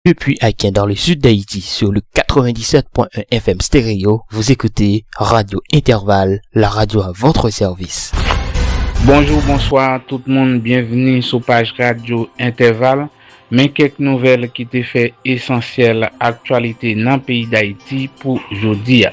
Depuis Aken dans le sud d'Haïti sur le 97.1 FM Stereo, vous écoutez Radio Intervalle, la radio à votre service. Bonjou, bonswa tout moun, byenvni sou paj radyo Entèval. Men kèk nouvèl ki te fè esansyèl aktyalite nan peyi Dayiti pou jodi a.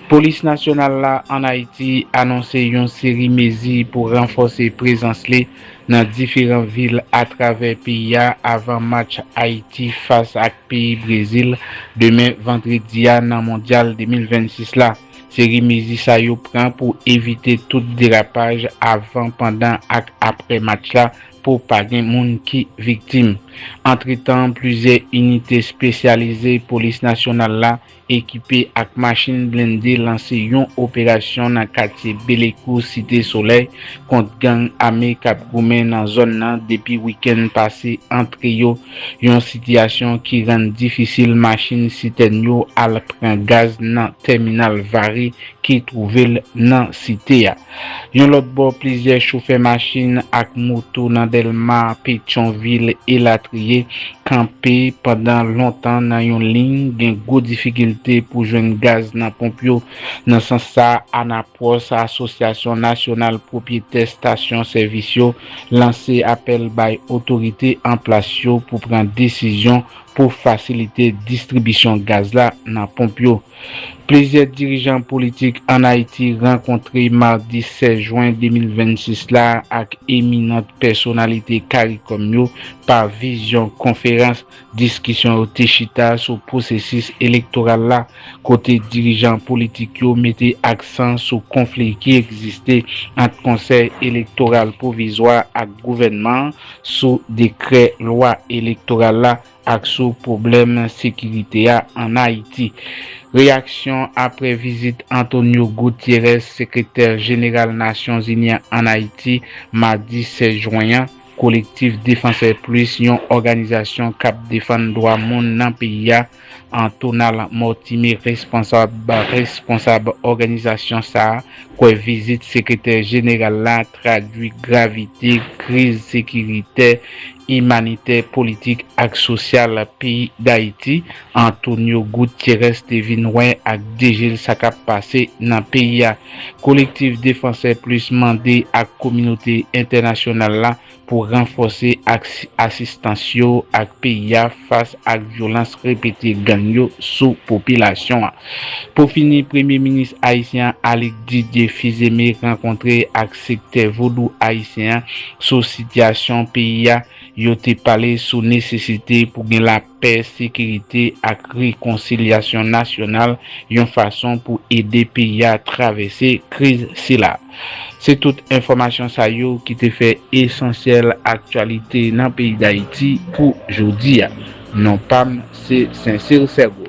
Polis nasyonal la ann Ayiti anonse yon seri mezi pou ranfòse prezans li Nan diferan vil atravè peyi a avan match Ayiti fas ak peyi Brezil demen vandredi a nan Mondyal 2026 la. Seri mezi sa yo pran pou evite tout derapaj avan, pandan ak aprè match la pou pa gen moun ki viktim. Antretan, plizyè inite spesyalize Polis Nasyonal la ekipe ak machin blende lanse yon operasyon nan katye Belekou Site Solèy kont gang ame kap goumen nan zòn nan depi wikenn pase antre yo yon sitiyasyon ki rann difisil machin sitèn yo al pran gaz nan tèminal Vare ki twouve l nan site a. Yon lòt bò, plizyè chofè machin ak moto nan Dèlma, Petyonvil, elatriye, kanpe pandan lontan nan yon liy gen gwo difikilte pou jwenn gaz nan ponp yo. Nan sans sa, Anapwòs, Asosyasyon Nasyonal Pwopyetè Stasyon Sèvis yo, lanse apèl bay otorite an plas yo pou pran desizyon pou fasilite distribisyon gaz la nan ponp yo. Plizyè dirijan politik ann Ayiti rankontre madi 16 jwen 2026 la ak eminant pèsonalite caricom yo pa vizyon konferans. Diskisyon yo te chita sou pwosesis elektoral la, kote dirijan politik yo mete aksan sou konfli ki egziste ant Konsèy Elektoral Pwovizwa ak gouvènman an sou dekrè lwa elektoral la. ak sou pwoblèm sekirite a ann Ayiti. Reyaksyon apre vizit Antonio Gutierrez, Sekretè Jeneral Nasyonzini an ann Ayiti, madi 16 jwen an, Collectif Défenseurs Plus, yon òganizasyon k ap defann dwa moun nan peyi a, an Tonal Mortimé, responsab responsab òganizasyon sa a, kwè vizit Sekretè Jeneral la, tradui gravite kriz sekiritè, imanitè, politik ak sosyal peyi Dayiti, Antonio Gutierrez te vin wè ak de je l sa k ap pase nan peyi a. Kolektif Défenseurs Plus mande ak kominote entènasyonal la pou ranfòse aks asistans yo ak peyi a fas ak vyolans repete gang yo sou popilasyon. Pou fini, Premye Minis ayisyen an Alix Didier Fils-Aimé rankontre ak sektè Vodou ayisyen an sou sitiyasyon peyi a, yo te pale sou nesesite pou gen lapè, sekirite ak rekonsilyasyon nasyonal yon fason pou ede peyi a travèse kriz sila. Se tout enfòmasyon sa yo ki te fè Esansyèl Aktyalite nan peyi Dayiti pou jodi a. Non pa m se Sincere Sergo.